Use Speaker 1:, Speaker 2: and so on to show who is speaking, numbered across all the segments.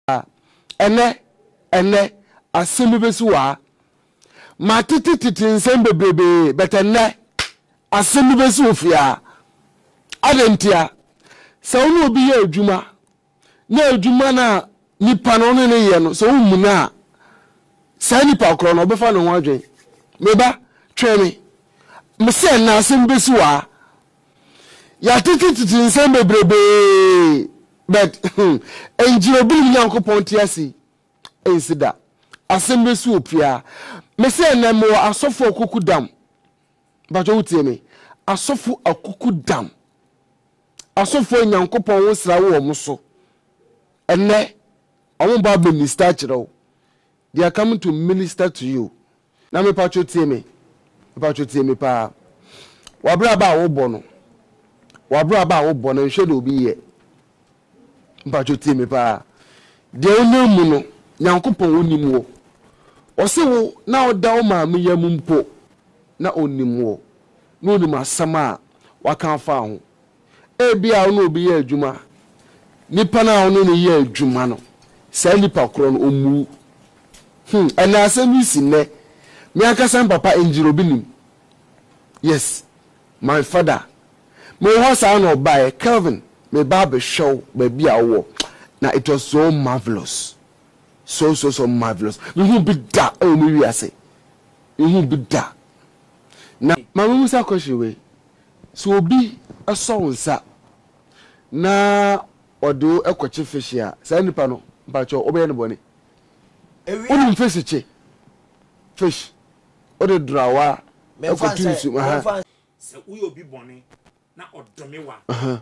Speaker 1: a, ɛnnɛ, ɛnnɛ, asɛm bi bɛsi hɔ a, matete tete nsɛm bebrebe, but ɛnnɛ, asɛm bi bɛsi hɔ fia. Adɛn ntia? Sɛ wo ne obi yɛ adwuma, na adwuma no a nipa no ne ne yɛ no, sɛ wommu no a, saa nipa korɔ no, ɔbɛfa ne ho adwen. Me ba, twɛn me. Mese ɛnnɛ, asɛm bi bɛsi hɔ a. Yɛatete tete nsɛm bebrebee but ɛngyina obinom Nyankopɔn te ase yi ɛnsi da. Asɛm bi nso wɔ pia. Mese ɛnɛ mewɔ asɔfo akuku dam. Mpakyɛ wotie me. Asɔfo akuku dam. Asɔfo a Nyankopɔn wo sra wɔ wɔn so. Ɛnɛ wɔn ba minister kyerɛ wo. They are coming to minister to you. Na mepatwo tie me, mepatwo tie me paa. W'abraba a wobɔ no, w'abraba a wobɔ no, nhwɛ deɛ obi yɛ. Mepatwo tie me paa. Deɛ wonam mu no, Nyankopɔn wonim wo. Ɔse wo na woda wo maame yam mpo, na onim wo, na onim asɛm a waka afa ho. Ebia wo ne obi yɛ adwuma a, nipa no a wo ne no yɛ adwuma no, saa nipa korɔ no, ɔmmuu. Hmm, ɛnna asɛm yi si nnɛ. Me ankasa me papa Engineer Obinim, yes, my father, me wɔ hɔ saa na ɔbaeɛ, Kelvin, meba abɛhwɛ wo baabi a wowɔ, na it was so marvellous, so so so marvellous. Mehu bi da wɔ me wiase, mehu bi da. Na ma me mmusa question wei, Sɛ obi sɔ wo nsa na ɔde wo kɔkye fehye a, saa nipa no, mpakyɛw, wobɛyɛ no bɔne. Wonim fehyekye, fish, wode dorawa kɔto nsu mu, aha. Sɛ woyɛ obi bɔne na
Speaker 2: ɔdome wo a,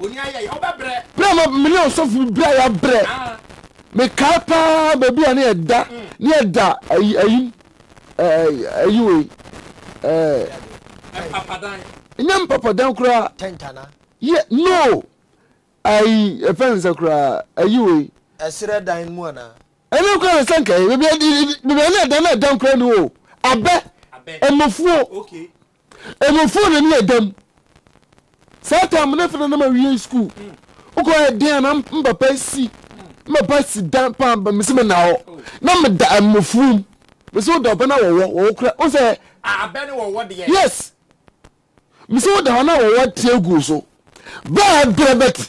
Speaker 2: Berɛ a ma mene ɔsɔfo
Speaker 1: bi berɛ a yɛabrɛ mekae paa baabi a ne yɛda ne yɛda ayi ayim ayi wei
Speaker 2: nyɛ mpapadan
Speaker 1: koraa yɛ
Speaker 3: no
Speaker 1: ayi ɛfɛ nsa koraa ayi wei ɛserɛ dan mu
Speaker 3: anaa ɛne koraa na
Speaker 1: sɛnkae baabi a ne yɛda na ɛdan koraa ni o abɛ ɛmafuo
Speaker 2: Emufo
Speaker 1: na ne yɛ dam. Saa tam ne fɛ na na ma wiei school. Okɔ yɛ den a na mpapa si mpapa si dan pa ba me si me na hɔ. Na me da emufum. Me si wo da ɔbɛ na wɔwɔ wɔwɔ kura. Ɔn sɛ. A abɛ ne wɔwɔ
Speaker 2: deɛ. Yes.
Speaker 1: Me si wo da hɔ na wɔwɔ tie gu so. Bɛɛ brɛ bɛti.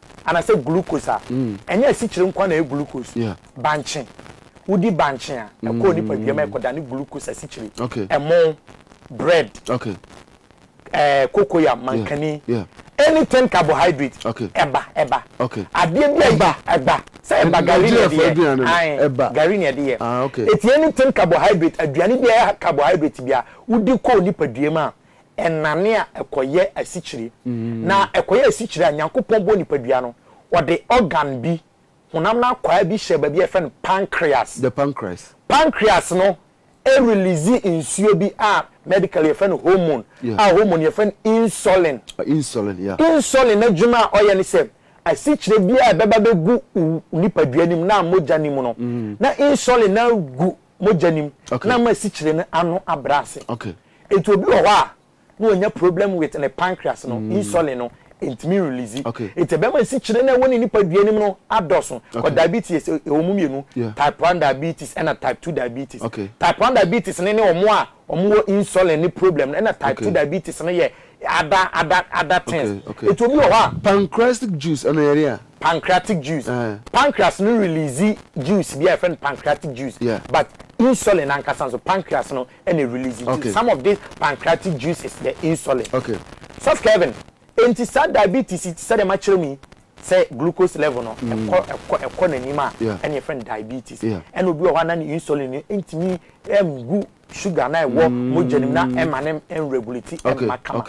Speaker 3: anasɛ glucose a, ɛnyɛ asikyire nko ara na ɛyɛ glucose. Bankye, Wodi bankye a, ɛkɔ wo nipadua mu a ɛkɔdane glucose asikyire. Ɛmo, bread,
Speaker 1: eh,
Speaker 3: cocoyam, mankani, anything carbohydrate, ɛba, ɛba. Adeɛ bi
Speaker 1: a ɛba,
Speaker 3: ɛba. Sɛ ɛba, gari na ɛde yɛ. Ae, gari na ɛde yɛ. Eti anything carbohydrate, aduane bi a ɛyɛ carbohydrate bi a wodi kɔ wo nipadua mu a, ɛnane a ɛkɔyɛ asikyire. Na ɛkɔyɛ asikyire a, Nyankopɔn bɔɔ nipadua no, ɔde organ bi, honam no akwaa bi hyɛɛ baabi a yɛfrɛ no pancreas. The pancreas.
Speaker 1: Pancreas
Speaker 3: no release nsuo bi a medically yɛfrɛ no hormone, a hormone yɛfrɛ no insulin. Insulin, yeah.
Speaker 1: Insulin n'adwuma
Speaker 3: a ɔyɛ ne sɛ, asikyire biara a ɛbɛba bɛgu wo nipadua no mu na mogya no mu no, na insulin no agu mogya no mu na ama asikyire no ano abrɛ
Speaker 1: ase.
Speaker 3: Nti obi wɔ hɔ a na wanya problem with ne pancreas no, insulin no ntumi release. Nti ɛbɛma asikyire no a ɛwɔ ne nipadua no mu no adɔso. Kɔ diabetes ɛwɔ mu mmienu, type one diabetes ɛna type two diabetes. Type one diabetes no ne wɔn a wɔwɔ insulin ne problem no ɛna type two diabetes no yɛ Ada ada ada things nti obi wɔ hɔ a. Pancreastic juice
Speaker 1: ɛno yɛre a. Pancreatic juice
Speaker 3: pancreas no release juice bi a yɛfrɛ no pancreatic juice but insulin ankasa nso pancreas no ɛna release nti some of this pancreatic juice is the insulin Sɔfo Kelvin nti saa diabetes yi te sɛ deɛ makyerɛ mu yi sɛ glucose level no ɛkɔ ɛkɔ ɛkɔ n'anim a ɛna yɛfrɛ no diabetes ɛna obi wɔ hɔ a na ne insulin no ntumi ɛngu sugar na ɛwɔ mogya nim na ɛma ne regulate ɛmma kama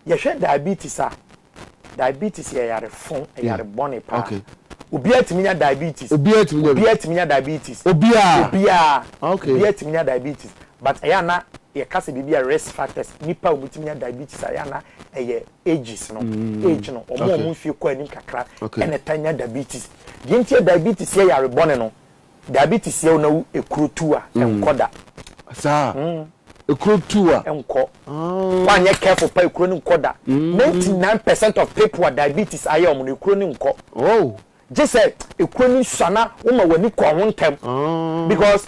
Speaker 3: yɛhwɛ diabetes a diabetes yɛ yare fon yare bɔne paa obiara tumi nya diabetes obiara tumi nya diabetes obiara obiara obiara tumi nya diabetes but ɛyɛ ana yɛka sɛ biribi a risk factors nipa a wɔtumi nya diabetes a ɛyɛ ana ɛyɛ ages no mm. age no wɔn a wɔn mfie kɔ anim kakra ɛna ta nya diabetes deɛ nti diabetes yɛ yare bɔne no Dabi te siaw na wo ekuro tu a ɛnkɔ da. Saa? Mm.
Speaker 1: Ekuro tu a. Ɛnkɔ.
Speaker 3: Ah. Wanyɛ careful pa ekuro no nkɔ da. Mm. 99 percent of people a diabetes ayɛ wɔn no ekuro no nkɔ. Oh. Gye sɛ ekuro no sua na woma w'ani kɔ ho ntɛm. Ah. Because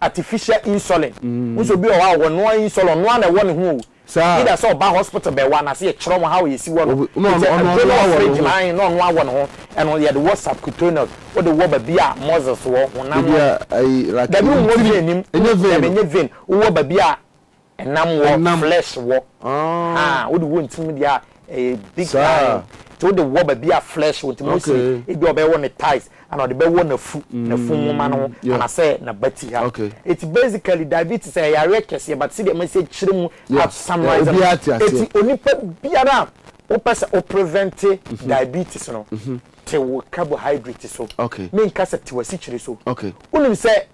Speaker 3: artificial insulin wo sɛ obi wɔ hɔ a ɔwɔ noa insulin ɔnoa na ɛwɔ ne ho o either sɛ ɔba hospital bɛwɔ anase yɛkyerɛ ɔmo how yɛsi wɔ no ɔtɛ aduro no wɔ fridge ma ahen na ɔnoa wɔ ne ho ɛno yɛde wɔ subcutaneous wode wɔ babi a muscles wɔ honam no dabi
Speaker 1: wonwɔ vein
Speaker 3: nim dabi ɛnyɛ vein wowɔ babi a Ɛnam wɔ, Ɛnam. flesh wɔ. Haa, Ah. wode wɔ ntim deɛ a, ɛyɛ big Saa. line. Nti wode wɔ baabi a flesh wɔ, nti Mose, Okay. ebi a ɔbɛwɔ ne thighs, ɛna ɔde bɛwɔ n'afu, n'afu nwoma no ho, Mm, yeah. anasɛ n'abati ha. Okay. Nti basically, diabetes, ɛyɛ yareɛ kɛseɛ, but sɛdeɛ masi akyerɛ mu Yeah, a summarize yeah, no, obiara te aseɛ. nti onipa biara a wopɛ sɛ wo prevente diabetes no, te wo carbohydrate so. Okay. Menka sɛ te w'asikyire so. Okay. Wonim sɛ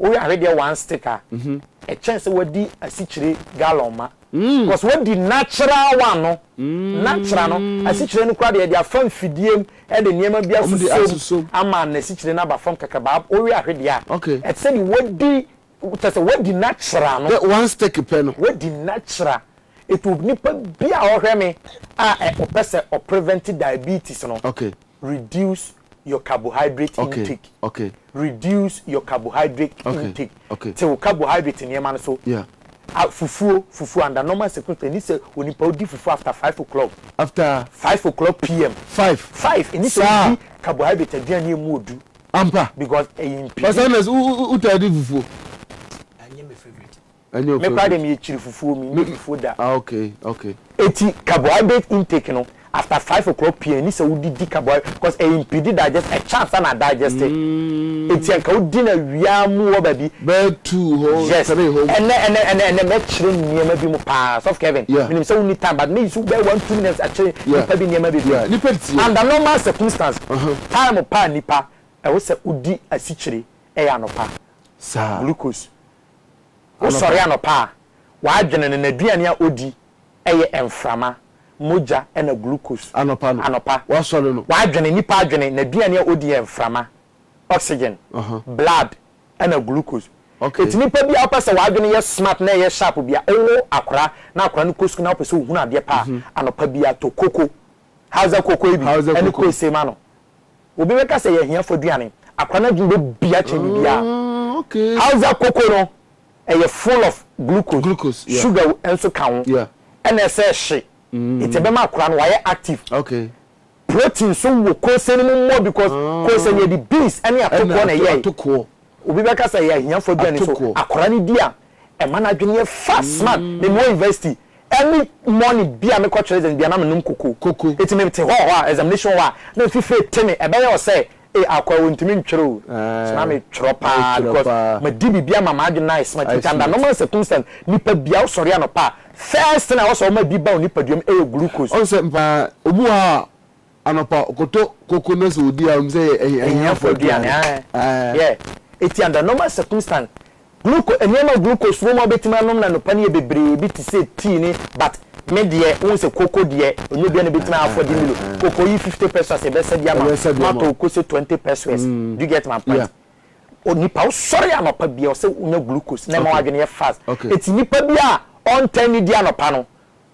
Speaker 3: Woyɛ ahwɛ deɛ one stick a ɛkyɛn sɛ wadi asikyire gallon ma cos wadi natural one no natural no asikyire no koraa deɛ yɛde afa mfidie mu de nneɛma bi asuso mu ama n'asikyire no aba fam kakra baa woyɛ ahwɛ deɛ a ɛte sɛ deɛ wadi kyɛ sɛ wadi natural no one stick pɛ no
Speaker 1: wadi natural
Speaker 3: etu nipa bi a ɔhwɛ me a ɔpɛ sɛ ɔprevent diabetes no reduce your carbohydrate intake. Okay, okay. Reduce your carbohydrate okay, intake. Okay. Te wo carbohydrate nneɛma no so. Yeah. Ah, fufuo, fufuo under normal circumstances. Ɛni sɛ onipa odi fufuo after five o'clock. After. Five
Speaker 1: o'clock pm.
Speaker 3: Five. Five. Ɛni sɛ odi carbohydrate aduane yɛ mu odu. Ampa. Because
Speaker 1: ɛyɛ mpidi.
Speaker 3: Ɔsɛ na o o o
Speaker 1: ta di fufuo. Ɛnyɛ my
Speaker 2: favorite. Me koraa deɛ meyɛ
Speaker 3: kyiri fufuo me nni fufuo da. Ah okay okay.
Speaker 1: Eti
Speaker 3: carbohydrate intake no after five o'clock pm ɛni sɛ wodi di carbohydrate cos ɛyɛ impede digestion ɛkyɛ ansa na adigeste eti anka wodi no awia mu wɔ baabi. Bɛyɛ two hɔ
Speaker 1: three hɔ mu. Yes ɛnɛ ɛnɛ ɛnɛ ɛnɛ mɛkyerɛ
Speaker 3: nneɛma bi mu paa sɔfo Kevin menim sɛ wonni time but meyi so bɛyɛ one two minutes akyerɛ nipa bi nneɛma bebree under normal circumstance time paa nipa ɛwɔ sɛ odi asikyire ɛyɛ anɔpa glucose Wosɔre anɔpa a, w'adwene no, n'aduane a odi yɛ mframa, mogya na glucose. Anɔpa no, Anɔpa, wasɔre no. w'adwene,
Speaker 1: nipa adwene,
Speaker 3: n'aduane a odi yɛ mframa, oxygen, Aha. blood na glucose. Okay. Enti nipa bi a wopɛ sɛ w'adwene yɛ smart na ɛyɛ sharp bi a, wowo akora na akora no kɔ sukuu na wopɛ sɛ ohunu adeɛ pa a, anɔpa biara tɔ koko Hausa Kokoi bi ne Kwesey ma no. Obi bɛka sɛ ɛyɛ ahiafo aduane. Akora no adwene bɛbia kyɛn biribiara. Hausa Koko no, ɛyɛ full of glucose, sugar nso ka ho, ɛna ɛsɛ hye, nti ɛbɛma akora no wayɛ active. Protein nso wɔ Kosey no mu more because Kosey no yɛde beans ne atokoɔ na ɛyɛe. Obi bɛka
Speaker 1: sɛ ɛyɛ
Speaker 3: ahiafo aduane so akwaraa no di a, ɛma n'adwene yɛ fast man. Me mewɔ university, any morning bi a mekɔ kyerɛ exams bi a na menom koko. Enti me te hɔɔ hɔ a, examination wɔ hɔ a, na me fifire te me, ɛbɛyɛ wo sɛ, ee akwa o, ntumi ntwerɛ o. So na me twerɛ paa because madi biribi ama m'adwene no ayɛ smart. Enti under normal circumstance, nipa bi a wo sɔre anɔpa a, first thing a ɛwɔ sɛ ɔma bi ba wo nipadua mu yɛ glucose. Ɔn sɛ paa,
Speaker 1: obi wɔ hɔ a, Anɔpa ɔkɔtɔ koko na sɛ ɔdi a ɔnim sɛ ɛyɛ ahiafoɔ
Speaker 3: aduane. Eti under normal circumstance gluco nneɛma glucose wɔ mu a wobɛtumi anom no anɔpa no yɛ bebree bi te sɛ tea ne but me deɛ wohu sɛ koko deɛ ɛnyɛ obiara na ɛbɛtumi a afford milo koko yi fifty pesos yɛbɛsa bi ama wo matɔ wo kose twenty pesos do you get my point onipa wosɔre anɔpa bia ɔsɛ wonya glucose na ɛma w'adwene yɛ fast eti nipa bi a ɔntɛn ne di anɔpa no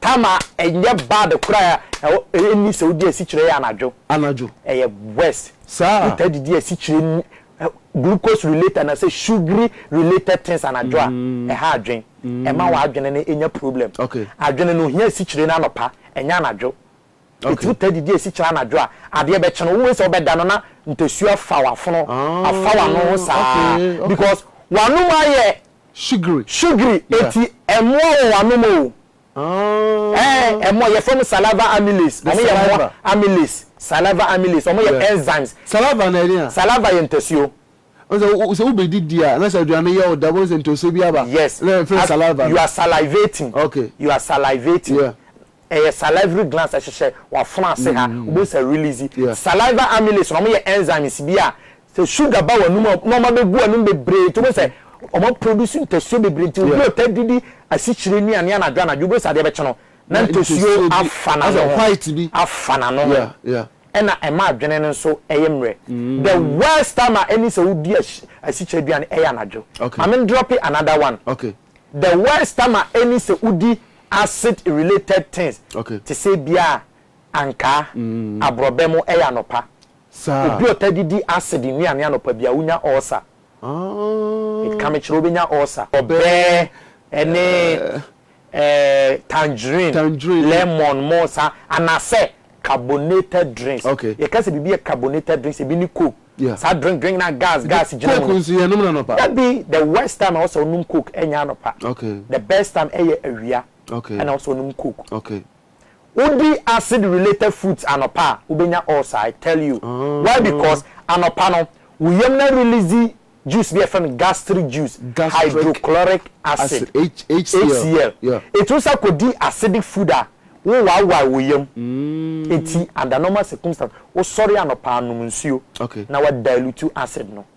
Speaker 3: Tama ɛnyɛ bad koraa ɛwɔ ɛnni sɛ wodi asikyire yɛ anadwo. Anadwo. Ɛyɛ worse. Saa. Wotaa didi
Speaker 1: asikyire
Speaker 3: ni ɛ glucose related anasɛ sugary related things anadwo a ɛha adwen ɛma w'adwene no ɛnya problem. Okay. Adwene no ohia
Speaker 1: asikyire
Speaker 3: no anɔpa ɛnyɛ anadwo. Eturu taa didi esi kyerɛ anadwo a adeɛ bɛkye no. Wohu sɛ wobɛda no na ntasu afa w'afono, afa w'ano ho saa because w'anom ayɛ sugary enti ɛmmoa wɔ w'anom o. Ɛɛ ɛmmoa. Yɛfrɛ wɔn saliva amylase. Wɔn yɛ mmoa amylase, saliva amylase. Wɔn yɛ enzymes.
Speaker 1: Saliva yɛ ntasuo.
Speaker 3: Ɔn sɛ wo sɛ wo
Speaker 1: bɛ di di a na sɛ aduane no yɛ wo dɛ bɔ sɛ ntose bi aba yes na yɛ fɛ saliva
Speaker 3: no. You are
Speaker 1: salivating
Speaker 3: okay you are
Speaker 1: salivating
Speaker 3: yeah ɛyɛ salivary glands ɛhyehyɛ wa fono ase ha wo bɛ sɛ release yeah saliva amylase no ɔmo yɛ enzymes bi a sɛ sugar ba wa num a na ɔmo abɛ gu wa num bebree nti wo bɛ sɛ ɔmo a produce ntasuo bebree nti obi a ɔtaa di di asikyire nnuane anadwo anadwo wo bɛ sɛ adeɛ bɛ kye no na ntasuo afa na no ho afa na
Speaker 1: no ho yeah
Speaker 3: yeah. ɛna ɛma
Speaker 1: adwene
Speaker 3: no nso yɛ mmerɛ the worst time a ɛni sɛ wodi asikyire aduane ɛyɛ anadwo mame n drope another one the
Speaker 1: worst
Speaker 3: time a ɛni sɛ wodi acid related things te sɛ ebia ankaa aborɔbɛ mo ɛyɛ anɔpa obi
Speaker 1: ɔta didi
Speaker 3: acid nnuane anɔpa bia wonya ulcer. Meka me kyerɛ wo bɛnya ulcer. Ɔbɛɛ ɛne ɛɛ tangerine, lemon, mo sa anasɛ carbonated drinks. Yɛka sɛ biribi yɛ
Speaker 1: carbonated
Speaker 3: drinks ebi ne coke saa drink drink na gas gas gyina
Speaker 1: mu no. Dabi the worst
Speaker 3: time a ɛwɔ sɛ wonom coke ɛnyɛ anɔpa the best time
Speaker 1: ɛyɛ awia
Speaker 3: ɛna ɛwɔ sɛ wonom
Speaker 1: coke. Wodi
Speaker 3: acid related fruits anɔpa a wobɛnya ulcer I tell you why because anɔpa no wo yam no arelease juice bi a yɛfrɛ no gastric juice hydrochloric acid HCL ɛti wosan kɔdi acidic food a wo wawae wo yam ɛti under normal circumstance wosɔre anɔpa a nom nsuo na wa dilute acid no.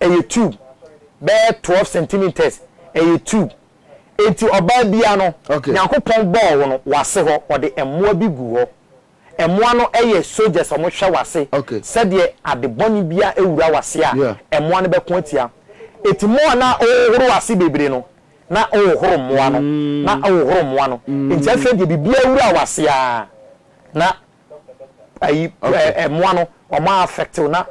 Speaker 3: ɛyɛ tube bɛyɛ twelve centimetres ɛyɛ tube enti ɔbaa bia no nyankopɔn bɔɔ
Speaker 1: wo no
Speaker 3: wase hɔ ɔde ɛmoa bi gu hɔ ɛmoa no ɛyɛ soldiers ɔmo hwɛ wase sɛdeɛ
Speaker 1: ade
Speaker 3: bɔne bia ɛwura wase a ɛmoa no bɛko
Speaker 1: atia
Speaker 3: eti moa na ɔhohoro wase bebree no na ɔhohoro mmoa no na ɔhohoro mmoa no enti afei deɛ bibia wura wase aa na ayi ɛmoa no wɔn a affect wo na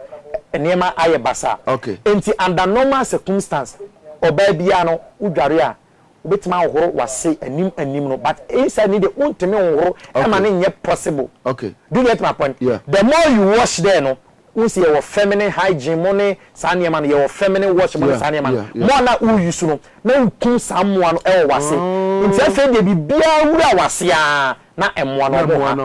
Speaker 3: nneɛma ayɛ basaa nti under
Speaker 1: normal
Speaker 3: circumstance ɔbaa biara no wo dware a wobɛtumi ahohoro wase anim anim no but inside ne deɛ wontumi nhohoro ɛma ne nyɛ possible do you get
Speaker 1: my point
Speaker 3: the more you
Speaker 1: wash
Speaker 3: there no Wohu sɛ yɛwɔ feminine hygiene mo ne saa nneɛma no, yɛwɔ feminine wash mo ne saa nneɛma no. Mo a na wo use no, na wo kum saa mmoa no wɔ w'ase. Nti afei deɛ biribiara wura w'ase ara na mmoa no ɔmo ha,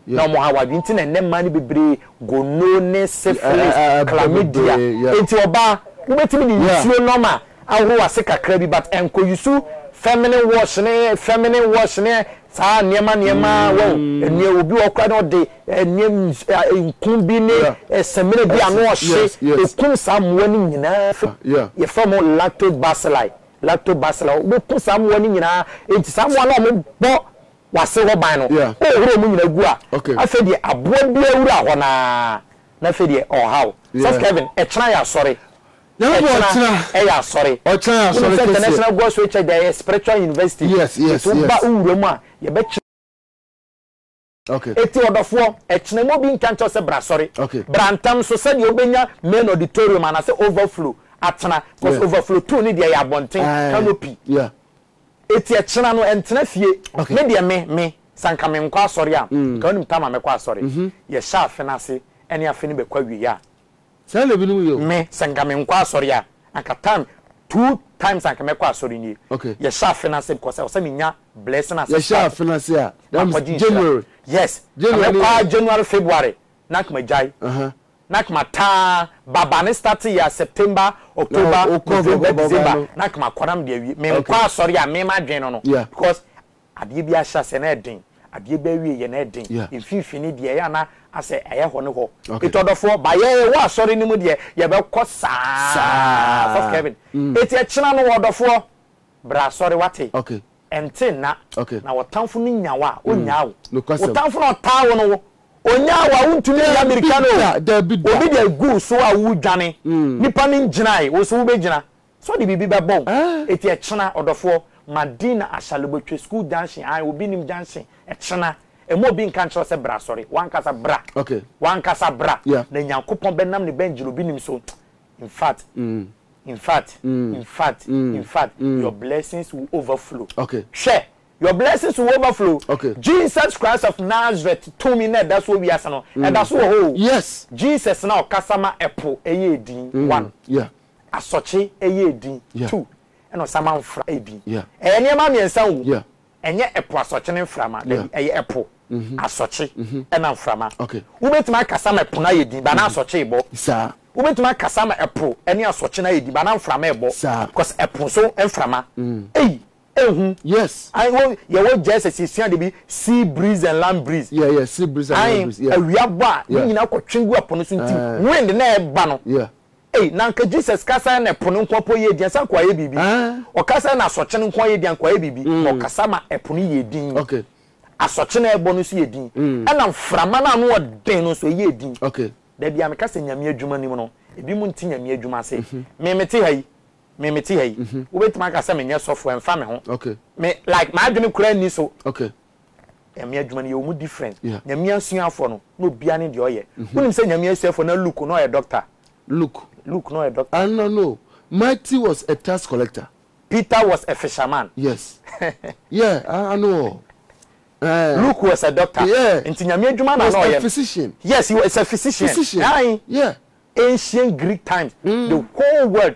Speaker 3: na ɔmo ha w'adwene. Nti na ɛnnɛ mmaa no bebree gono ne syphilis, chlamydia. Nti ɔbaa, wobɛtumi de nsuo normal ahoro w'ase kakra bi, but ɛnkɔ use feminine wash ne feminine wash ne Saa nneɛma nneɛma wɔ hɔ. Nneɛ obi wɔ hɔ koraa na ɔde nneɛ nku bi ne samina bi a na ɔhye ɛkum saa mmoa no nyinaa firi mu. Yɛfrɛ wɔn lactobacilli. Lactobacilli. Wobɛku saa mmoa no nyinaa. Enti saa mmoa no a wɔbɔ w'ase hɔ ban no, wohohoro wɔn nyinaa gu a, afei deɛ aboa biara wura hɔ no ara na afei deɛ ɔha wo. Sɔfo Kevin, ɛkyena yɛasɔre. Ɛkyena ɛyɛ asɔre. Wonim sɛ International Gospel Church deɛ ɛyɛ spiritual university. Nti wo ba wo
Speaker 1: wura mu a yɛbɛ kyi. Eti ɔdɔfoɔ,
Speaker 3: ɛkyena mma obi nka nkyerɛ wo sɛ bra asɔre. Bra ntɛm so
Speaker 1: sɛdeɛ
Speaker 3: wobɛnya main auditorium anaasɛ overflow atena. Cause overflow two no deɛ ɛyɛ abɔnten, canopy.
Speaker 1: Eti
Speaker 3: ɛkyena no ɛntena fie. Me deɛ me, me, sɛ anka menkɔ asɔre a, nka wonim time a mɛkɔ asɔre. Yɛhyɛ afe no ase ɛne afe no bɛkɔ awieɛ a, Saa na ebinom
Speaker 1: yɛ o. Me sɛ nka me nkɔ
Speaker 3: asɔre a anka time two times anka mɛkɔ asɔre nie okay. Yɛ hyɛ afe no ase
Speaker 1: because
Speaker 3: ɛwɔ sɛ me nya blessing ase start. Yɛ hyɛ afe no ase
Speaker 1: a that means January. Yes
Speaker 3: ka mɛ kɔ ara January February na anka ma gyae uh -huh. Na anka ma taa ba ba ne start yɛ a September October no, November December no. na anka ma kɔ na me de awie me nkɔ okay. asɔre a me ma adwene no no yeah. because. Adeɛ bi ahyɛ aseɛ na ɛyɛ den, adeɛ bi awieɛ na ɛyɛ den, mfimfini deɛ ɛyɛ a na asɛ ɛyɛ hɔ ne hɔ. Eti ɔdɔfoɔ, ba yɛ yɛwɔ asɔre no mu deɛ yɛbɛkɔ saa, Ɔsɔfo Kevin, eti ɛkyena no ɔdɔfoɔ, bra asɔre wate, ɛnte
Speaker 1: nna
Speaker 3: na wɔtamfo no nya wo a, ɔnnyaa wo, wo tamfo no a ɔtaa wo no, ɔnyaa wo a, wontumi nya mirika no o, obi deɛ egu wo so a woredwane, nnipa no ngyinae, wo nso wobɛgyina, So ɔde biribi bɛbɔ wo? Eti ɛkyena, ɔdɔfoɔ, ma din na Ashalibo twe school junction, ae, obi nim junction, ɛkyena, ɛma obi nka nkyerɛ wo sɛ bra asɔre, w'ankasa bra, w'ankasa bra, na Nyankopɔn bɛnam ne bɛngyil obi nim so, infact, infact, infact, infact, your blessings will overflow, hwɛ,
Speaker 1: your
Speaker 3: blessings will overflow, Jesus
Speaker 1: Christ of
Speaker 3: Nazareth tumi na ɛda so wɔ wiase no, ɛda so wɔ hɔ o, Jesus
Speaker 1: na ɔkasa
Speaker 3: ma ɛpo ɛyɛɛ din, one,
Speaker 1: Asɔkye
Speaker 3: yɛ edin, tu, ɛna ɔsanma mfra yɛ din. Ɛyɛ nneɛma
Speaker 1: mmiɛnsa ngu.
Speaker 3: Ɛnyɛ ɛpo
Speaker 1: asɔkye
Speaker 3: ne mframa, dabi, ɛyɛ ɛpo, asɔkye, ɛna mframa. Wobɛtumi
Speaker 1: akasa ma ɛpo
Speaker 3: no ayɛ din, but na asɔkye rebɔ. Wobɛtumi
Speaker 1: akasa ma
Speaker 3: ɛpo ne asɔkye no ayɛ din, but na mframa rebɔ, cause ɛpo nso mframa. Ei, ehu.
Speaker 1: Ae, wo,
Speaker 3: yɛwɔ JSS yɛsua dabi, sea breeze and land breeze. Ae,
Speaker 1: awia bɔ a, ne nyinaa
Speaker 3: kɔtwe gu ɛpo no so nti, wind no a ɛba no, Ei, na anka Jesus kasae na ɛpo no nkoa po yɛɛ dinn ansa nkoa ayɛ biribi. Ɔkasae na asɔkye no nkoa yɛɛ dinn ankoa ayɛ biribi. Na ɔkasa ma ɛpo no yɛɛ dinn.
Speaker 1: Asɔkye no a ɛrebɔ
Speaker 3: no nso yɛɛ dinn. Ɛna mframa no a ano ɔden no nso, ɛyɛɛ dinn. Da biara meka
Speaker 1: sɛ Nyame
Speaker 3: adwuma nim no, ebinom nte Nyame adwuma ase. Me, mete ha yi. Me, mete ha yi. Wobɛtumi aka sɛ menyɛ sɔfo, ɛmfa me ho. Me, like,
Speaker 1: m'adwene
Speaker 3: koraa nni so.
Speaker 1: Nyame adwuma
Speaker 3: no yɛwɔ mu different. Yeah. Nyame asuafoɔ no na obiara ne deɛ ɔyɛ. Mhm. Wonim sɛ Nyame asuafoɔ na Luke na ɔyɛ doctor. Luke. Luke na ɔyɛ doctor. Ah no no.
Speaker 1: Matthew was a tax collector. Peter was a
Speaker 3: fisherman. Yes.
Speaker 1: yeah, ah no. Eh.
Speaker 3: Luke was a doctor. Yeah. Nti Nyame adwuma
Speaker 1: na na
Speaker 3: ɔyɛ. Was a physician. Yes,
Speaker 1: he
Speaker 3: was
Speaker 1: a physician.
Speaker 3: Physician. Aye. Yeah.
Speaker 1: Ancient Greek
Speaker 3: times. Mm. The whole world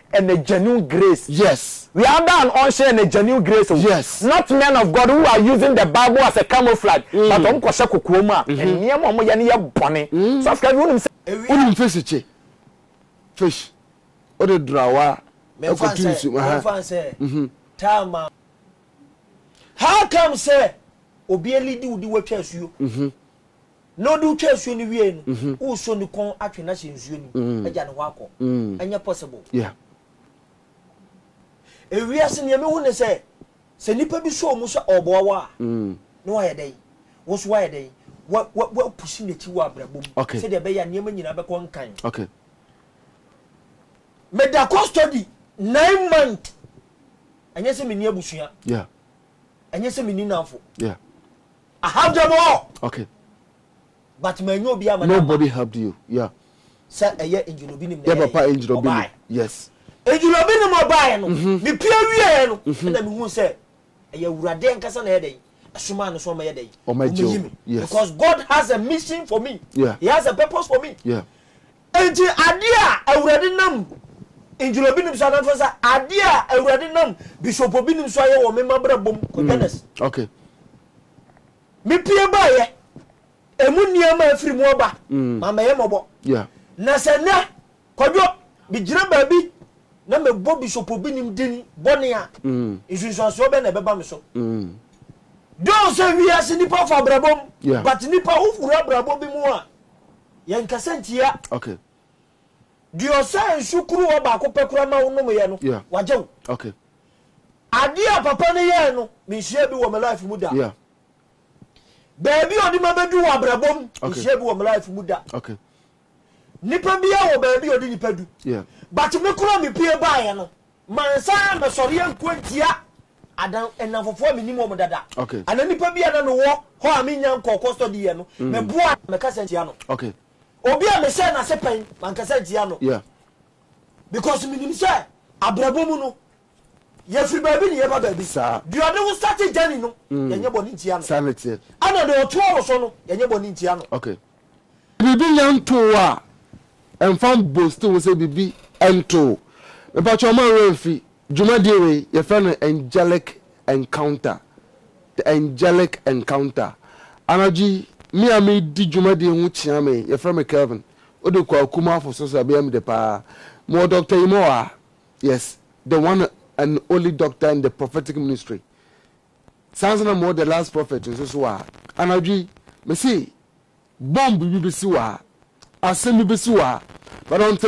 Speaker 3: ɛnɛ genuine grace. Yes. We are ada
Speaker 1: an ɔnhyɛ
Speaker 3: ɛnɛ genuine grace o. Yes. Not men of
Speaker 1: God who
Speaker 3: are using the bible as a camouflage mm. but ɔmo kɔ hyɛ kokoɔ mu a mm -hmm. nneɛma ɔmo yɛ no yɛ bɔne. Mm. Sɔfo ɛbi wonim sɛ. Wonim fish kye
Speaker 1: fish ɔde drawa ɛkɔtu nsu.
Speaker 4: Mɛnfa nsɛ mhm. taama. How come sɛ obi elidi wudi watwa asuo. Mhm. Na ɔde wo twa nsuo no wiee no, woresɔ ne kɔn atwe no ahyɛ nsuo no mu agya ne hɔ akɔ? Ɛnyɛ possible.
Speaker 1: Yeah.
Speaker 4: Ewiase nea mehu ne sɛ, sɛ nnipa bi sɔ wo mu sɛ ɔreboa wo a, na woayɛ dɛn? Wo nso woayɛ dɛn? Wa, wa, woapusi n'akyi wɔ abrabɔ mu Okay. sɛdeɛ ɛbɛyɛ a nneɛma
Speaker 1: nyinaa
Speaker 4: bɛkɔ nkan. Okay. Meda custody nine month. Ɛnyɛ sɛ menni abusua. Yeah.
Speaker 1: Ɛnyɛ sɛ
Speaker 4: menni nnamfo. Yeah.
Speaker 1: I have
Speaker 4: them all. Okay.
Speaker 1: But
Speaker 4: ma enyo obi ama na. Nobody helped you.
Speaker 1: Yeah. Sɛ ɛyɛ
Speaker 4: engine obi nim na ɛyɛ. Yɛ papa engine obi
Speaker 1: nim. Yes. Engine obi nim
Speaker 4: ɔbaa no. Me pie wie yɛ no. Ɛna me hu sɛ ɛyɛ awurade ankasa na ɛyɛ dɛ. Ɛsoma no so ɔmɛyɛ dɛ. Ɔmɛyi me. Yes. Because
Speaker 1: God has
Speaker 4: a mission for me. Yeah. He has a purpose
Speaker 1: for me.
Speaker 4: Yeah.
Speaker 1: Enti
Speaker 4: adeɛ a Awurade nam Ndwurobinom so anaa fa sɛ adeɛ a Awurade nam Bishopobinom so ayɛ wɔ me mabrabɔ mu kɔ Genes. Okay. Me pue baeɛ, ɛmu nneɛma a afiri mu aba, mammɛyɛ mmɔbɔ. Yeah. Na sɛ
Speaker 1: nnɛ,
Speaker 4: Kwadwo, megyina baabi na mebɔ Bishopobinom din bɔne a, nsunsuansoɔ bɛn na ɛbɛba me so? Dɔɔ sɛ wiase nnipa fa abrabɔ mu, but nnipa wowura abrabɔ bi mu a, Yɛnkasa ntia. Okay.
Speaker 1: Deɛ
Speaker 4: ɔsaa nsu kuruwa baako pɛ koraa ma wo nomeeɛ no, Yeah. wagye wo. Okay.
Speaker 1: Adeɛ
Speaker 4: a papa no yɛɛ no, menhyiaa bi wɔ me life mu da. Yeah. Baabi a ɔde ma bɛdu wɔ abrabɔ mu, Okay. menhyiaa bi wɔ me life mu da. Okay.
Speaker 1: Nipa
Speaker 4: biara wɔ baabi a ɔde nipa du. Yeah. But me
Speaker 1: koraa
Speaker 4: mepue baeɛ no, Mansan ammɛsɔre anko antia adan nnamfofoɔ a mennim wɔn dada anaa nnipa bi a
Speaker 1: na mewɔ
Speaker 4: hɔ a mennya nkɔɔ kɔstɔdi yɛ no. Meboa no, mɛkasa ntia no. Obi
Speaker 1: a mehyɛɛ
Speaker 4: n'ase pɛn, mankasa ntia no
Speaker 1: because
Speaker 4: menim sɛ abrabɔ mu no, yɛfiri baabi na yɛba baabi. Deɛ ɔde wo starte journey no, yɛnyɛ bɔne ntia no. Ɛna deɛ
Speaker 1: ɔtoa wo
Speaker 4: so no, yɛnyɛ bɔne ntia no.
Speaker 1: Biribi nyɛ ntow a, ɛmfa mbosti ho sɛ biribi ntow. Mepakyɛ wo, mma wo werɛ mfi dwumadie wei, yɛfrɛ no Angelic Encounter, The Angelic Encounter. Anadwo yi, me a medi dwumadie yi ho kyea me, yɛfrɛ me Kelvin, wode kɔ Akumaafo so so a, ɛbɛyɛ me dɛ paa. Mewɔ Doctor Yimawaa, yes, the one and only doctor in the prophetic ministry, Saa nso na mowɔ The Last Prophet nso so a, anadwo yi, mese, bomb bi bɛsi wɔ ha, asɛm bi bɛsi wɔ ha, but until.